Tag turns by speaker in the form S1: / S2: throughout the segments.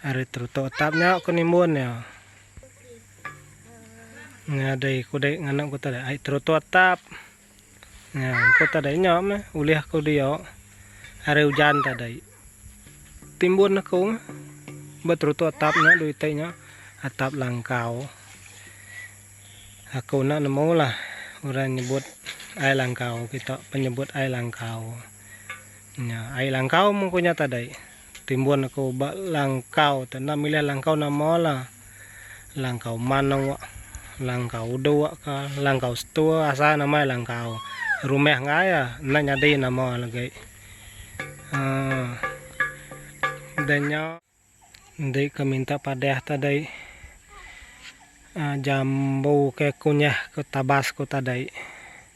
S1: Ari terutuk atap nya ku nimbun iya. Nya dei ku dei nganak ku tadi ai terutuk atap. Nya ku tadi nya meh ulih ku dia ari ujan tadi. Timbun aku ba terutuk atap nya dui ti nya atap langkau. Aku enda nemu lah orang nyebut ai langkau kita penyebut ai langkau. Nya ai langkau mung ku nya tadi. Timbun aku ba langkau tu enda milih langkau nama la. Langkau manok, langkau udok ka, langkau setua asal nama iya langkau. Rumah enggai iya enda nyadi nama iya legi. Haa dah nya enti ke minta padah tadi aa jambu ke kunyah ke tabas ku tadi.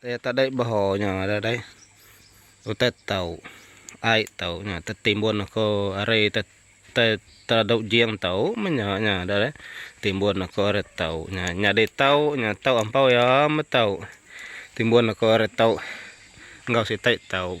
S1: Iya tadi beho nya ada deh. Utai tau. Ai tau nya tetimbun ko ari te te tadu jing tau menya nya ada deh. Timbun ko ari tau nya nyadi tau nya tau ampau iya me tau. Timbun ko ari tau enggau siti tau.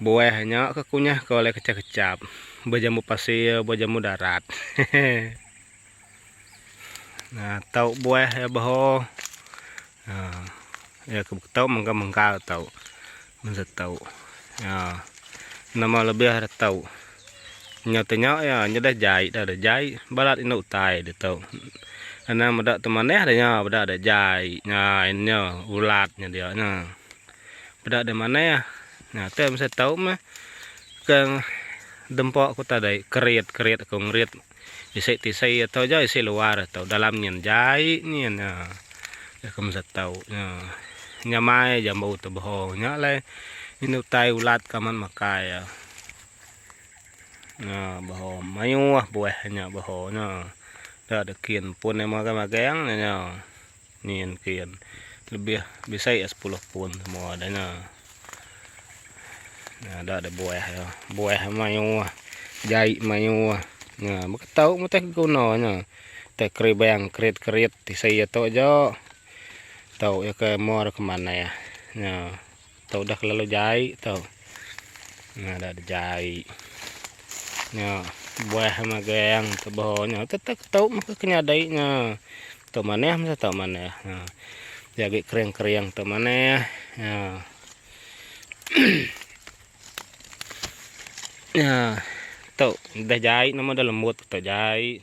S1: Buah nya ke kunyah ke oleh kecap-kecap. Buah jambu pasir, buah jambu darat. nah, tau buah ya beho. Ha. Ya ke tau mengkal-mengkal tau. Menza tau. Ya. Nama lebih ada tau. Nya tanya ya, nya dah jai dah ada jai. Balat indah utai dia tau. Ana meda tu manah dah nya, beda ada jai. Nya, nya ulat nya dia nya. Beda ada manah. Nah teh mesti tau meh ke dempa ku tadi kerit kerit ku ngerit isi tisi atu ja isi luar atu dalam nyin jai nyin nya dah ku mesti tau nya nya mai ja embu tebeho nya alai inu tai ulat ke amat makai ya nya beho mayuh buah nya beho nya da de kin pun magang magang nya. Ni en ke en lebih bisai ya sepuluh pun semua dah nya. Nah, ada ada buah ya. Buah mayu ah. Jai mayu ah. Nah, beketau mutih guna nya. Teh keribang kerit-kerit tisi ya tu aja. Tau ya ke mo ke manah. Nah. Tau dah kelalu jai tau. Nah dah ada jai. Nya buah magang tebau nya tetap tau maka kenyadai nya. Tau manah mesti tau manah. Ha. Jagi kering-kering tau manah. Ha. Ya, tau dah jai nama dah lembut tau jai.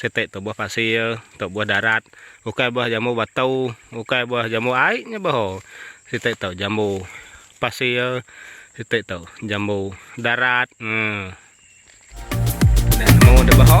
S1: Siti tu buah pasir, tu buah darat, ukai buah jambu batu, ukai buah jambu ai nya bah ho. Siti tu jambu pasir, siti tu jambu darat. Hmm. Dah nemu dah bah ho.